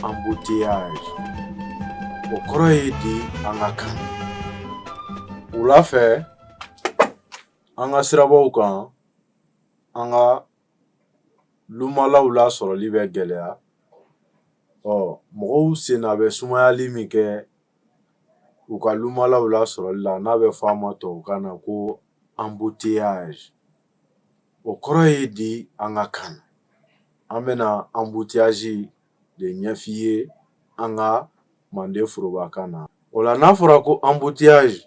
embouteillage o kɔrɔ ye di an ka kan wula fɛ an ka sirabaw kan an ka lumalaw lasɔrɔli bɛ gɛlɛya ɔ mɔgɔw senna bɛ sumayali min kɛ u ka lumalaw lasɔrɔli la n'a bɛ fɔ a ma tubabukan na ko embouteillage O kɔrɔ ye di an ka kan an bɛna embouteillage de ɲɛf'i ye an ka manden forobakan na o la n'a fɔra ko embouteillage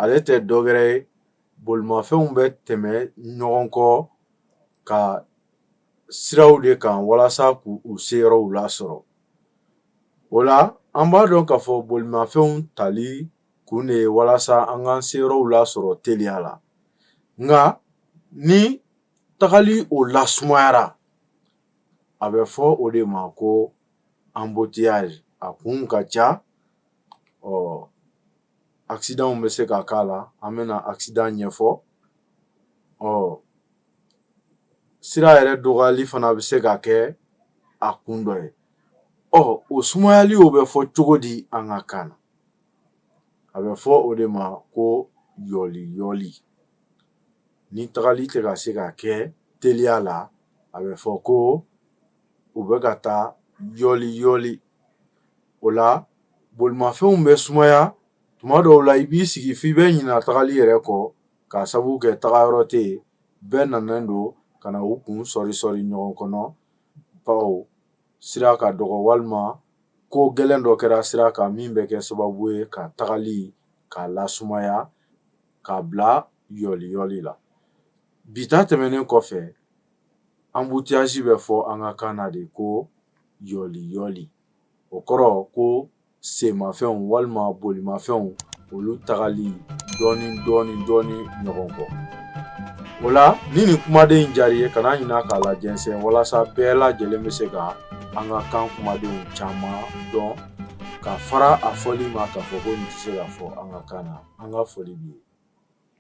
ale tɛ dɔ wɛrɛ ye bolimafɛnw bɛ tɛmɛ ɲɔgɔn kɔ ka siraw de kan walasa k'u seyɔrɔw lasɔrɔ o la an b'a dɔn k'a fɔ bolimafɛnw tali kun de ye walasa an k'an seyɔrɔw lasɔrɔ teliya la nka ni tagali o la sumayara a bɛ fɔ o de ma ko embouteillage a kun ka ca ɔ accidentw bɛ se ka k'a la an bɛna accident ɲɛfɔ ɔ sira yɛrɛ dɔgɔyali fana bɛ se ka kɛ a kun dɔ ye ɔ o sumayali o bɛ fɔ cogo di an ka kan na a bɛ fɔ o de ma ko yɔliyɔli ni tagali tɛ ka se ka kɛ teliya la a bɛ fɔ ko u bɛ ka taa yɔliyɔli o la bolimafɛnw bɛ sumaya tuma dɔw la i b'i sigi f'i bɛ ɲinɛ tagali yɛrɛ kɔ k'a sabu kɛ tagayɔrɔ tɛ yen bɛɛ nanen don ka na u kun sɔɔri sɔɔri ɲɔgɔn kɔnɔ bawo sira ka dɔgɔ walima ko gɛlɛn dɔ kɛra sira kan min bɛ kɛ sababu ye ka tagali k'a lasumaya k'a bila yɔliyɔli la bi ta tɛmɛnen kɔfɛ embouteillage bɛ fɔ an ka kan na de ko yɔliyɔli o kɔrɔ ko senmafɛnw walima bolimafɛnw olu tagali dɔɔni dɔɔni dɔɔni ɲɔgɔn kɔ o la ni nin kumaden in diyara i ye kana ɲinɛ k'a lajɛnsɛn walasa bɛɛ lajɛlen bɛ se ka an ka kan kumadenw caman dɔn ka fara a fɔli ma k'a fɔ ko nin tɛ se ka fɔ an ka kan na an ka foli b'i ye